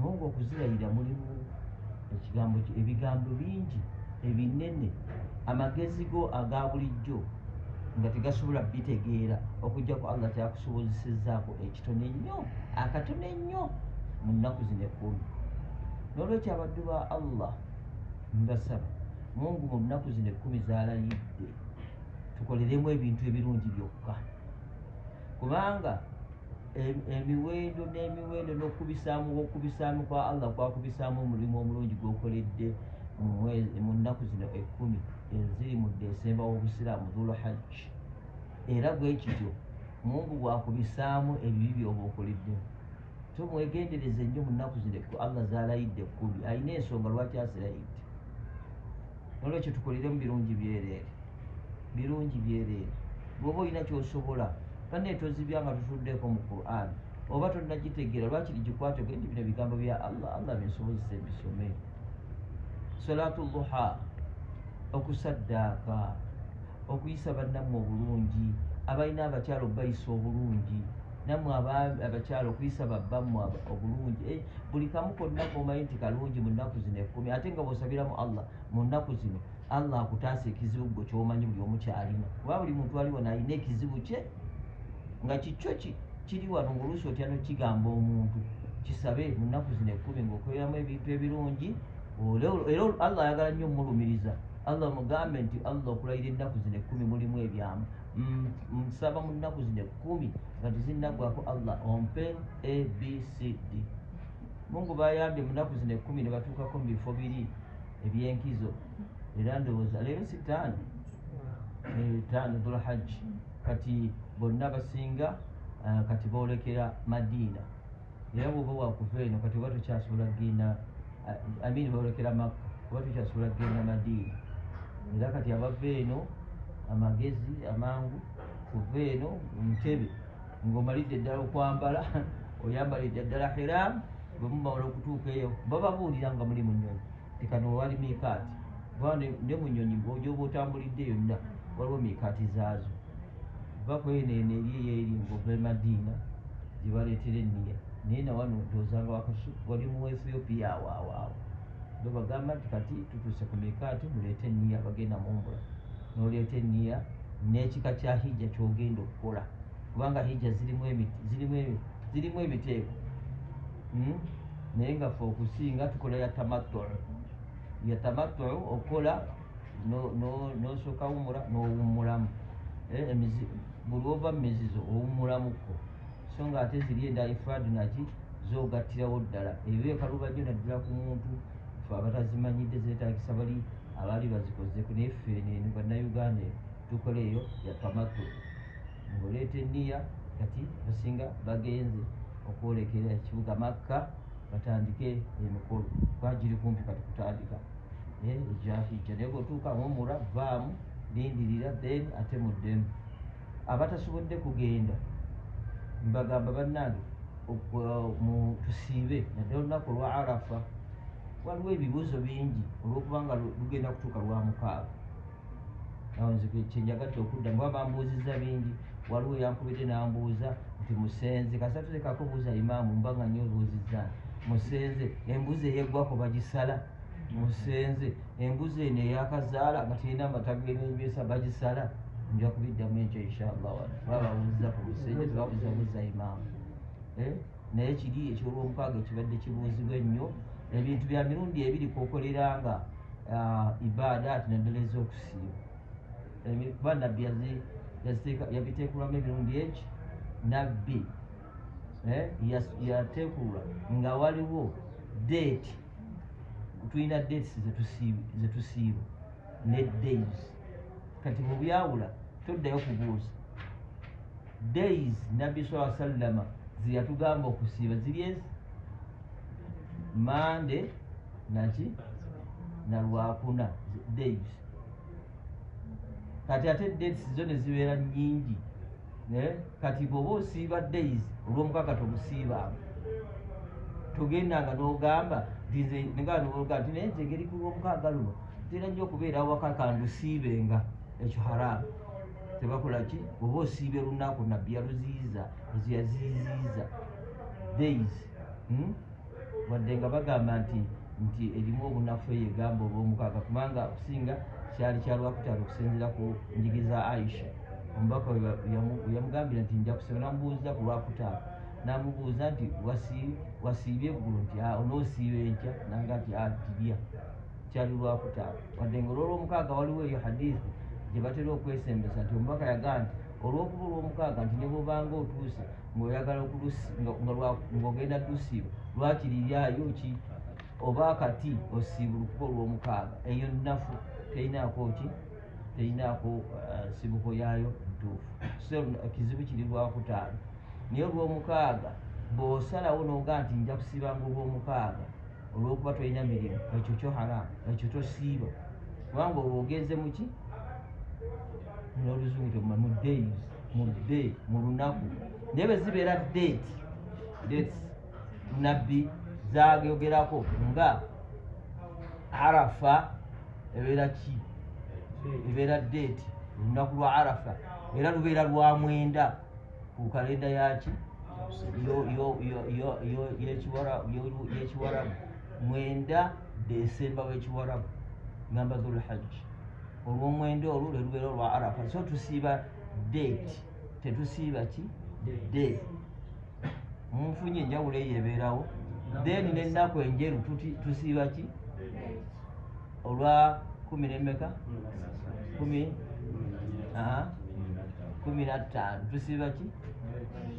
Mungu okuzirayira mulimu ekigambo kye ebigambo bingi ebinene amagezi go aga bulijjo nga tegasobola bitegeera okujjako allah kyakusobozesezaako ekitono ennyo akatono ennyo mu nnaku zino ekkumi n'olwekyo abaddu ba allah mbasaba mungu mu nnaku zino ekkumi zalayidde tukoleremu ebintu ebirungi byokka kubanga emiwendo n'emiwendo n'okukubisaamu okukubisaamu kwa allah kwakubisaamu omulimu omulungi gwokoledde mu nnaku zino ekkumi eziri mu desemba w'obusiraamu dhulu hajji era bwe kityo mungu bwakubisaamu ebibi byoba okoledde so mwegendereze nnyo mu nnaku zino ekku allah zaalayidde ekkumi alina ensonga lwaki azirayidde nolwekyo tukolere mu birungi byereere birungi byereere bwoba olina kyosobola banne tozibya nga tutuddeeko mu quran oba tonagitegeera lwaki ligikwate gwe nti bino bigambo bya allah allah binsobozesa ebisome salatu luha okusaddaaka okuyisa bannammwe obulungi abalina abakyala okubayisa obulungi nammwe abakyala okuyisa babbammwe obulungi eh, buli kamu konna komanyi nti kalungi mu nnaku zino ekkumi ate nga bwosabiramu allah mu nnaku zino allah akutaasa ekizibu gwe kyomanyi buli omu kyalina kuba buli muntu ali wano alina ekizibu kye nga kikyo ki kiri wano ngaoluusi otya nokigamba omuntu kisabe mu nnaku zino ekkumi ngaokoleramu ebintu ebirungi era allah ayagala nnyo omulumiriza allah mugambe nti allah okulayira ennaku zino ekkumi mulimu ebyamu nsaba mu nnaku zino ekkumi nga tezinaggwako allah ompe abcd mungu bayambye mu nnaku zino ekkumi ne batuukako mu bifo biri ebyenkizo era ndowooza leero si taano eh, taano dhulhajji kati bonna basinga eh, kati boolekera madiina era bwoba wakuva eno kati oba tukyasobola kugenda eh, amini boolekera makka oba tukyasobola kugenda madiina era kati abava eno amagezi amangu kuva eno mutebe ng'omalidde ddala okwambala oyambalidde ddala hiramu bwemubawala okutuuka eyo bababuulira nga muli mu nyonyi tekano wewali miikaati kuba ne mu nyonyi gyoba otambulidde yonna waliwo miikaati zaazo va kweneeno eri eyeeri ngova emadiina gye baleetera enniya naye nawano odoozanga wakasu wali mu ethiopia awaawaawo be bagamba nti kati tutuuse ku miikaati muleete enniya abagenda mu mbula noleeta enniya n'ekika kya hijja kyogenda okukola kubanga hijja zirimu zirimu ebiteeko hmm? naye nga fe okusinga tukola ya tamattu ya tamattu okukola nosooka wumula nowumulamu eh, buli ova mu mizizo owumulamuko so nga ate ziri enda ifrad naki zogattirawo ddala ebyo ekalubajo naddala ku muntu fe abatazimanyidde zetagisa bali abaali bazikozeko naye fe bannayuganda tukola eyo ya tamattu ng'oleeta enniya kati basinga bagenze okwolekera ekibuga makka batandike emikolo kwagiri kumpi kati kutandika eh, ejahijja naye bwotuuka ngomura vaamu lindirira then ate muddemu abatasobodde kugenda mbagamba bannange tusiibe nadde olunaku olwa arafa waliwo ebibuuzo bingi olwokubanga lugenda kutuuka lwa mukaaga kyenjagadde okudda muba bambuuzizza bingi waliwo yankubidde nambuuza nti musenze kasatulekako buuza imaamu mba nga nyo obuuzizza musenze embuzi eyeggwako bagisala musenze embuzi eno eyakazaala nga terina amatagenenjesa bagisala nja kubiddamu enkyo inshallah wala bababuuzizza ku musenze tebabuuza buuza imaamu eh? naye kiri ekyolwomukaaga ekibadde kibuuzibwa ennyo ebintu bya mirundi ebiri kokolera nga uh, ibaada ati naddala ez'okusiiba kuba nabbi yabiteekulamu emirundi eki nabbi eh, yateekulula nga waliwo deeti tulina dates zetusiiba ne days kati bwebyawula toddayo kubuuza days nabbi saa sallama zeyatugamba okusiiba ziri ezi mande naki nalwakuna days kati ate dates zo nezibeera nyingi Eh, kati bwoba osiiba days olwomukaka tobusiibanga togenda nga nogamba ngaa ti naye nzegeri ku lwomukaga luno tera nyo okubeera awaka kandusiibenga ekyo haramu tebakola ki oba osiibe lunaku nabbi yaluziiza ezo yaziiziiza days hmm? wadde nga bagamba nti nti erimu obunafu eyo egamba olwomukaaga kubanga okusinga kyali kyalwakutaano okusinzira ku njigi za aisha omubaka yamugambira nti nja kusaba namubuuza ku lwakutaano namubuuza nti wasiibye eggulu nti ah, onoosiiba enkya nanga nti atirya ah, kyali lwakutaano wadde nga olwolwomukaaga waliwo eyo hadithi gye batera okwesembesa nti omubaka yagaa nti olwokuba olwomukaaga nti nebwobanga otuuse ngaoyagala ngaogenda dusiiba lwaki liryayo ki oba kati osiibulukuba olwomukaaga eyo nafu teyinaako ki teyinaako uh, nsibuko yaayo ntuufu so kizibu kiri lwakutaano naye olwomukaaga bwosalawo noga nti nja kusiibanga olwomukaaga olwokuba tolina mirimu ekyo kyo haramu ekyo tosiiba kubanga olwo ogenze muki noluzungu temuma mu days mu day mu lunaku naye bwe zibeera date dates nabbi zageogerako nga arafa ebeera ki ebeera date olunaku lwa arafa era lubeera lwa mwenda ku kalenda yaki yekiwarabu mwenda desemba wekiwarabu namba dhulhajji olwomwenda olwo lwelubeera olwa arafa so tusiiba date tetusiiba ki day munfunye enjawulo eyo ebeerawo then nenaku enjeru tusiiba ki olwa kumi nemeka kumi kumi nattaano tusiiba ki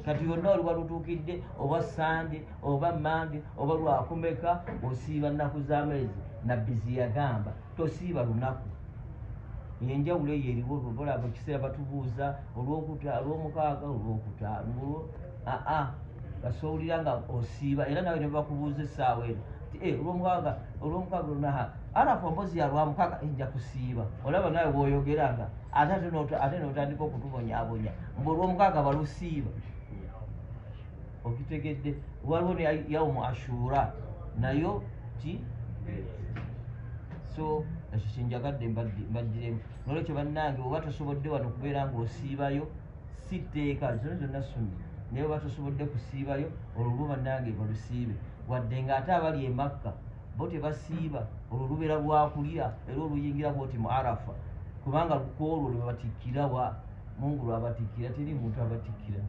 kati yonna oluba lutuukidde oba sande oba mande oba lwakumeka osiiba nnaku z'amezi nabbi ziyagamba tosiiba lunaku yenjawulo eyo eriwo olwolaba ekiseera batubuuza olwokuta olwomukaaga olwokuta aa basowulira nga osiiba era nawe nebakubuuza esaawa eno ti eh, olwomukaaga olwomukaaga lunaha arafu mbozi yalwamukaaga enja eh, kusiiba olaba nawe woyogera nga ate ate notandika okutubonyabonya mbu olwomukaaga balusiiba okitegedde waliwo ne yaumu ashura nayo ki so ekyo kyenjagadde mbagiremu nolwekyo bannange oba tosobodde wano kubeera ngaosiibayo si tteeka zino zonna sunna naye oba tosobodde kusiibayo olulwo bannange balusiibe wadde ngaate abali emakka bo tebasiiba olwo lubeera lwakulya era oluyingira bwoti mu arafa kubanga lukwolwo lwebatikkirawa mungu lwabatikkira teri muntu abatikkira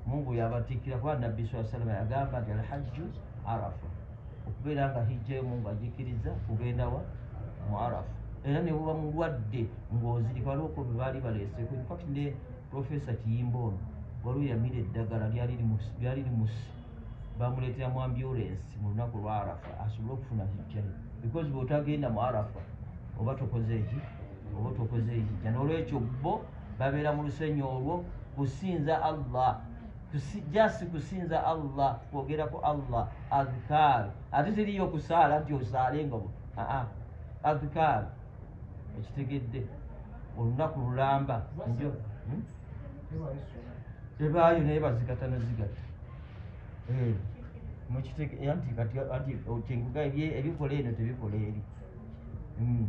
mungu yabatikkira kuba nabbi saa salama yagamba nti alhajju arafa okubeera nga hijjayo mungu agikkiriza kugendawa mu arafa era nebuba mulwadde ngaozirika waliwo ko bebaali baleeseko infact ne profesa kiyimba ono waliwo yamira eddagala lyali limusi bamuleetera mu ambulensi mu lunaku lwa arafa asobole okufuna hijjayo because bwotagenda mu arafa oba tokoze eki oba otukoze ekijja n'olwekyo bo babeera mu lusenyi olwo kusinza allah jasi kusinza allah kwogera ku allah adhikaar ate teriyo kusaala nti osaale nga aa adhikaar ekitegedde olunaku lulamba njo hmm? ebaayo naye bazigata nazigata eh, mukitegeanti kati nkuga ebikola eno tebikola eri hmm.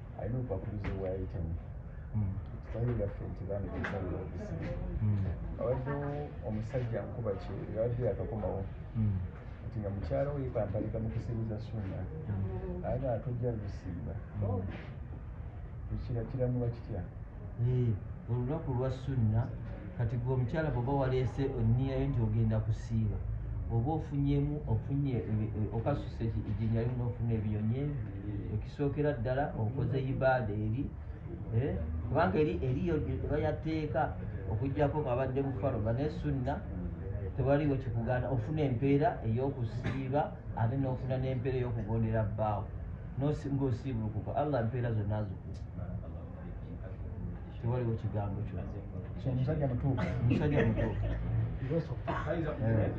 alina obubakuluzi obwayitamu hmm. ekitali yaffe nti baana ekisalira okusiba hmm. abaddewo omusajja nkuba kye yabadde yakakomawo hmm. nti nga mukyala oyo kampalika mu kusibuza suuna aga atojja lusiiba ekira kiramuba kitya eh, olunaku lwa sunna kati gwe omukyala bwoba waleese oniyayo nti ogenda kusiiba oba ofunyemu ofunye okasuse ejinyali nofuna ebiyonyi ekisookera ddala okoze ibaada eri eh, kubanga eri eriyo ebayateeka okujjako ngabadde mufaroga naye sunna tewaliwo kikugaana ofuna empeera eyokusiiba ate nofuna nempeera eyokugondera bbaawo ngaosiibulukuka allah mpeera zonna zikuwa tewaliwo kigambo kyomusajja mutuufu musajja mutuufu eh.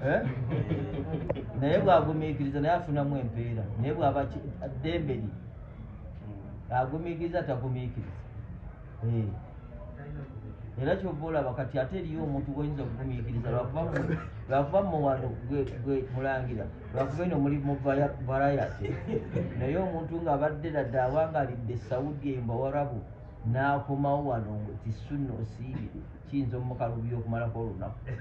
eh? naye bwagumiikiriza naye afunamu empeera naye bwaba ddembe li agumiikiriza tagumiikiriza eh. era kyova olaba kati ate eriyo omuntu gwoyinza okugumiikiriza lwakuba muwano gwe mulangira lwakuba eno muli mu varayate naye omuntu nga abadde ladde awangalidde saudi eyo mbawarabu n'akomawo wano tisunna osiibi kiyinza omukalubira okumalako olunaku eh.